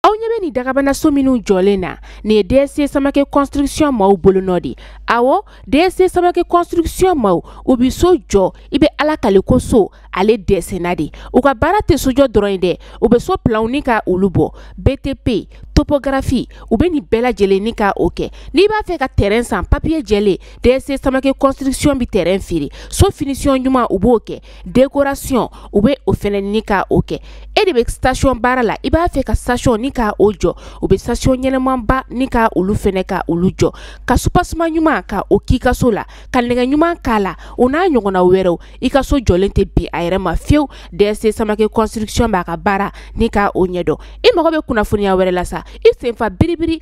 aw ɲɛ bɛ nin dagabana so minnu jɔlen na nin ye dsc samake construction maaw bolonɔ de awɔ dsc samake construction maaw u bɛ so jɔ i bɛ ala kale ko so ale dɛsɛna de u ka baara tɛ sojɔ dɔrɔn ye dɛ u bɛ so planw ni ka olu bɔ btp topogarafi u bɛ nin bɛɛ lajɛlen ni ka o kɛ n'i b'a fɛ ka tɛrɛn san papiye jɛlen dsc samake construction bɛ tɛrɛn feere so finisiyɔn ɲuman u b'o kɛ décoration u bɛ o fana ni ka o kɛ e de bɛ station baara la i b'a fɛ ka station ni ka o jɔ u bɛ station ɲɛnamaba ni ka olu fana ka olu jɔ ka soubassement ɲuman ka o k'i ka so la ka nɛgɛ ɲuman k'a la o n'a ɲɔgɔnna wɛrɛw i ka so jɔlen tɛ bin a yɛrɛ ma fiyewu dsc samake construction b'a ka baara ni ka o ɲɛdɔn i mago bɛ kunnafoniya wɛrɛ la sa i sen fa biribiri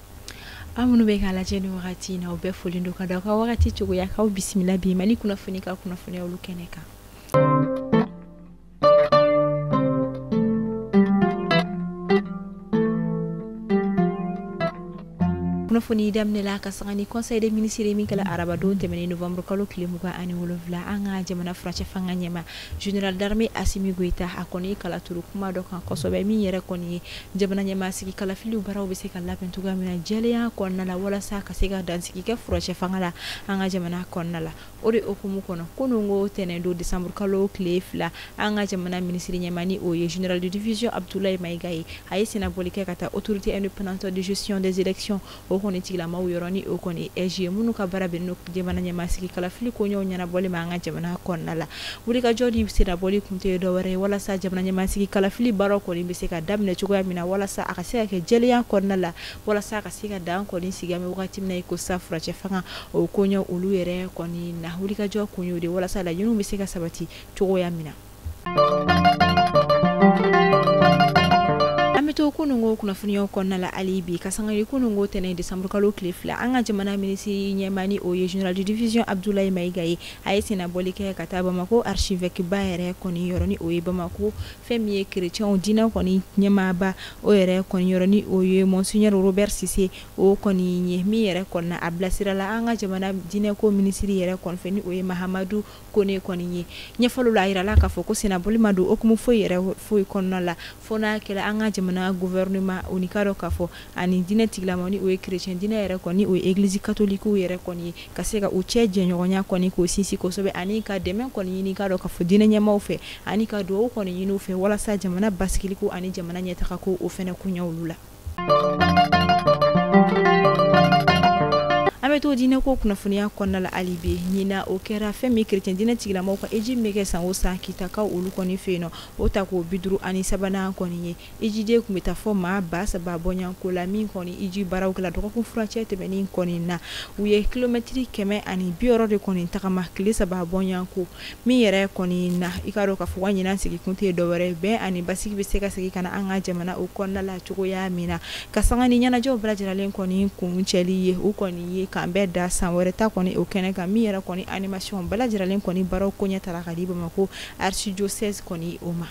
aw minnu bɛ k'a lajɛ ni wagati in na u bɛɛ foli don ka da aw ka wagati cogoya k'aw bisimila bi mali kunnafoni ka kunnafoniya olu kɛnɛ kan kunnafoni daminɛ la ka sanga ni conseil des ministres ye min kɛla arabadon tɛmɛnen novembre kalo tile mugan ani wolonfila an ka jamana furancɛ fanga ɲɛmaa général d'armée asimi goyita a kɔni ye kala turu kuma dɔ kan kosɛbɛ min yɛrɛ kɔni ye Jamana ɲɛmaa sigi kalafiliw baaraw bɛ se ka labɛn cogoya min na jɛlenya kɔnɔna la walasa ka se ka dansigi kɛ furancɛ fanga la an ka jamana kɔnɔna la o de hukumu kɔnɔ kununko tɛnɛn don décembre kalo tile fila an ka jamana minisiri ɲɛmaa ni o ye général de division Abudulayi Mayiga ye a ye sennabɔli kɛ ka taa autorité indépendante de gestion des élections o kɔni tigilamaw yɔrɔ ni o kɔni AIGE ye minnu ka baara bɛnnen don jamana ɲɛmasigi kalafili koɲɛw ɲɛnabɔli ma an ka jamana kɔnɔna la wulikajɔ ni sennabɔli kun tɛ dɔ wɛrɛ ye walasa jamana ɲɛmasigi kalafili baara kɔni bɛ se ka daminɛ cogoya min na walasa a ka se ka kɛ jɛlenya kɔnɔna la walasa a ka se ka dan kɔni sigi an bɛ wagati min na i ko sa furancɛ fanga o koɲɛ olu yɛrɛ kɔni na wulikajɔ kun y'o de walasa laɲiniw bɛ se ka sabati cogoya min na an bɛ to kununko kunnafoniyaw kɔnɔna la hali bi ka sanga kununko tɛnɛn décembre kalo tile fila an ka jamana minisiri ɲɛmaa ni o ye général de division Abudulayi Mayiga ye a ye sennabɔli kɛ ka taa Bamakɔ archevêque ba yɛrɛ kɔni yɔrɔ ni o ye Bamakɔ fɛn min ye chrétiens diinɛ kɔni ɲɛmaaba o yɛrɛ kɔni yɔrɔ ni o ye monseigneur Robert Sise o kɔni ye min yɛrɛ kɔni na a bilasirala an ka jamana diinɛko minisiri yɛrɛ kɔni fɛ ni o ye Mahamadu Kone kɔni ye ɲɛfɔli la a yirala k'a fɔ ko sennabɔli ma don hukumu foyi yɛrɛ foyi kɔnɔna la fo n'a kɛra an ka jamana gouvernement o ni k'a dɔn k'a fɔ ani diinɛ tigilamaw ni o ye chrétien diinɛ yɛrɛ kɔni o ye église catholique yɛrɛ kɔni ye ka se ka u cɛ jɛɲɔgɔnya kɔni k'o sinsin kosɛbɛ ani ka dɛmɛ kɔni ɲini k'a dɔn k'a fɔ diinɛ ɲɛmaaw fɛ ani ka dugawu kɔni ɲini u fɛ walasa jamana basigiliko ani jamana ɲɛtagako o fana koɲɛ olu la an bɛ to diinɛ ko kunnafoniya kɔnɔna la hali bi ɲinan o kɛra fɛn min chrétien diinɛ tigilamɔgɔw ka hiji bɛ kɛ san o san kitakaw olu kɔni fɛ yen nɔ o tako bi duuru ani sabanan kɔni ye hijiden tun bɛ taa fo maa ba saba bɔɲɔgɔnko la min kɔni hiji baaraw kɛla dɔgɔkun furancɛ tɛmɛnen kɔni na u ye kilomɛtiri kɛmɛ ani bi wɔɔrɔ de kɔni tagama tile saba bɔɲɔgɔnko min yɛrɛ kɔni na i k'a dɔn k'a fɔ ɲinan sigi kun tɛ dɔwɛrɛ bɛn ani basigi bɛ se ka segin ka na an ka jamana o kɔnɔna la cogoya min na ka sanga ni ɲɛnajɛw bɛɛ lajɛrɛlen kɔni kuncɛli ye u kɔni ye k'an bɛn da san wɛrɛ ta kɔni o kɛnɛ kan min yɛrɛ kɔni animasiɔn bɛɛ lajɛrɛlen kɔni baaraw koɲɛ tara ka di bamakɔ archidiocèse kɔni o ma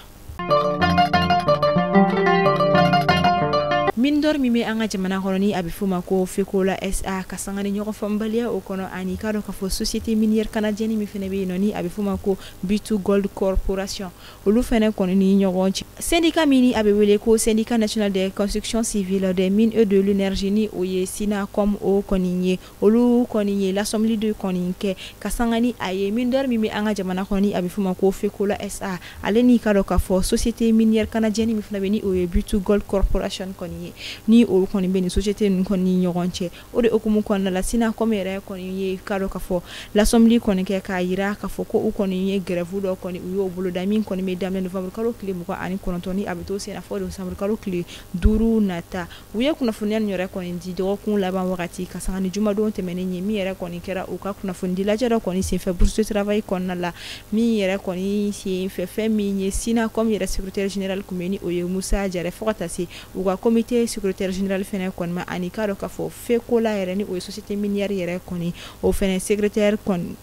mine d'or min bɛ an ka jamana kɔnɔ ni a bɛ f'o ma ko fekola sa ka sanga ni ɲɔgɔn faamubaliya o kɔnɔ ani k'a dɔn k'a fɔ société minière canadienne min fɛnɛ bɛ yen nɔ ni a bɛ f'o ma ko b2 gold corporation olu fɛnɛ kɔni ni ɲɔgɔn cɛ syndicat min a bɛ wele ko syndicat national des constructions civiles des mines et de l'énergie ni o ye synacome o kɔni ye olu kɔni ye lasɔmili de kɔni kɛ ka sanga ni a ye mine d'or min bɛ an ka jamana kɔnɔ ni a bɛ f'o ma ko fekola sa ale ni k'a dɔn k'a fɔ société minière canadienne min fana bɛ ni o ye b2 gold corporation kɔni ye ni olu kɔni bɛ nin société ninnu kɔni ni ɲɔgɔn cɛ o de hukumu kɔnɔna la synacome yɛrɛ kɔni ye k'a dɔn k'a fɔ lasɔmili kɔni kɛ k'a jira k'a fɔ ko u kɔni ye gɛrɛfu dɔ kɔni u y'o boloda min kɔni bɛ daminɛ nowanburu kalo tile mugan ani kɔnɔntɔn ni a bɛ to sen na fo desanburu kalo tile duuru nata u ye kunnafoniya nin yɛrɛ kɔni di dɔgɔkun laban wagati ka sanga ni jumadon tɛmɛnen ye min yɛrɛ kɔni kɛra u ka kunnafonidi lajɛ dɔ kɔni senfɛ bourse de travail kɔnɔna la min yɛrɛ kɔni senfɛ fɛn min ye synacome yɛrɛ secrétaire général tun bɛ ni o ye musa jare fo ka taa se u ka comité secrétaire général fɛnɛ kɔni ma ani k'a dɔn k'a fɔ fekola yɛrɛ ni o ye société minière yɛrɛ kɔni o fɛnɛ secrétaire kɔni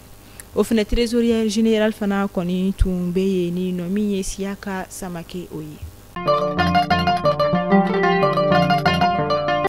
o fɛnɛ trésorier général fana kɔni tun bɛ yen ni nɔ min ye siyaka samake o ye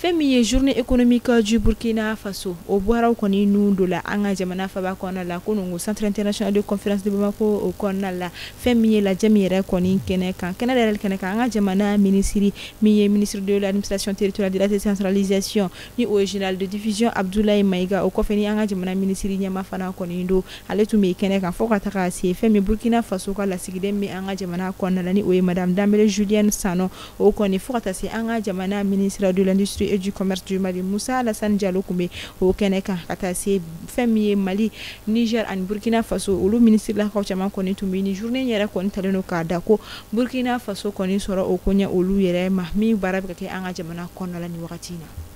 fɛn min ye journée économique du burkina faso o baaraw kɔni nun donna an ka jamana faba kɔnɔna la kunungo centre international de conférence de bamako o kɔnɔna la fɛn min ye lajɛ min yɛrɛ kɔni kɛnɛ kan kɛnɛ dayɛlɛli kɛnɛ kan an ka jamana minisiri min ye ministre de l'administration territoriale de la décentralisation ni o ye général de division abdoulaye maïga o kɔfɛ ni an ka jamana minisiri ɲɛmaa fana kɔni don ale tun bɛ kɛnɛ kan fo ka taga se fɛn min ye burkina faso ka lasigiden bɛ an ka jamana kɔnɔna la ni o ye madame dembélé julienne sanon o kɔni fo ka taa se an ka jamana ministre de l'industrie et du commerce du mali musa alassane diallo tun bɛ o kɛnɛ kan ka taa se fɛn min ye mali niger ani burkina faso olu ministrilakaw caman kɔni tun bɛ ni journée yɛrɛ kɔni talen don k'a da ko burkina faso kɔni sɔrɔ o koɲɛ olu yɛrɛ ma min baara bɛ ka kɛ an ka jamana kɔnɔna la nin wagati in na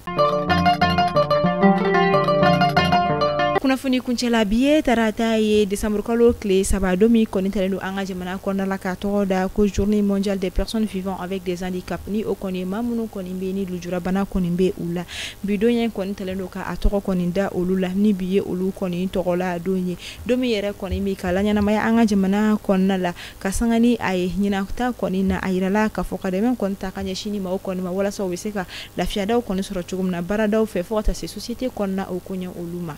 kunnafoni kuncɛla bi ye tarata ye desanburukalo tile saba don min kɔni talen don an ka jamana kɔnɔna la ka a tɔgɔ da ko journée mondiale des personnes vivant avec des handicaps ni o kɔni ye maa minnu kɔni bɛ ni lujurabana kɔni bɛ u la bi don ye kɔni talen don ka a tɔgɔ kɔni da olu la ni bi ye olu kɔni tɔgɔla don ye don min yɛrɛ kɔni bɛ ka laɲɛnamaya an ka jamana kɔnɔna la ka sanga ni a ye ɲinan ta kɔni na a jirala k'a fɔ ka dɛmɛ kɔni ta ka ɲɛsin nin maaw kɔni ma walasa u bɛ se ka lafiyadaw kɔni sɔrɔ cogo min na baaradaw fɛ fo ka taa se société kɔnɔna o ko ɲɛ olu ma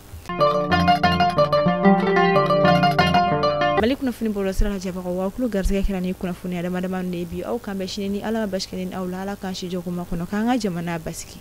mali kunnafoni bɔlɔ sira lajɛbagaw aw tulo garisɛgɛ kɛra nin kunnafoni damadama de bi aw k'an bɛn sini ni ala ma baasi kɛ ne ni aw la ala k'an si jɔkuma kɔnɔ k'an ka jamana basigi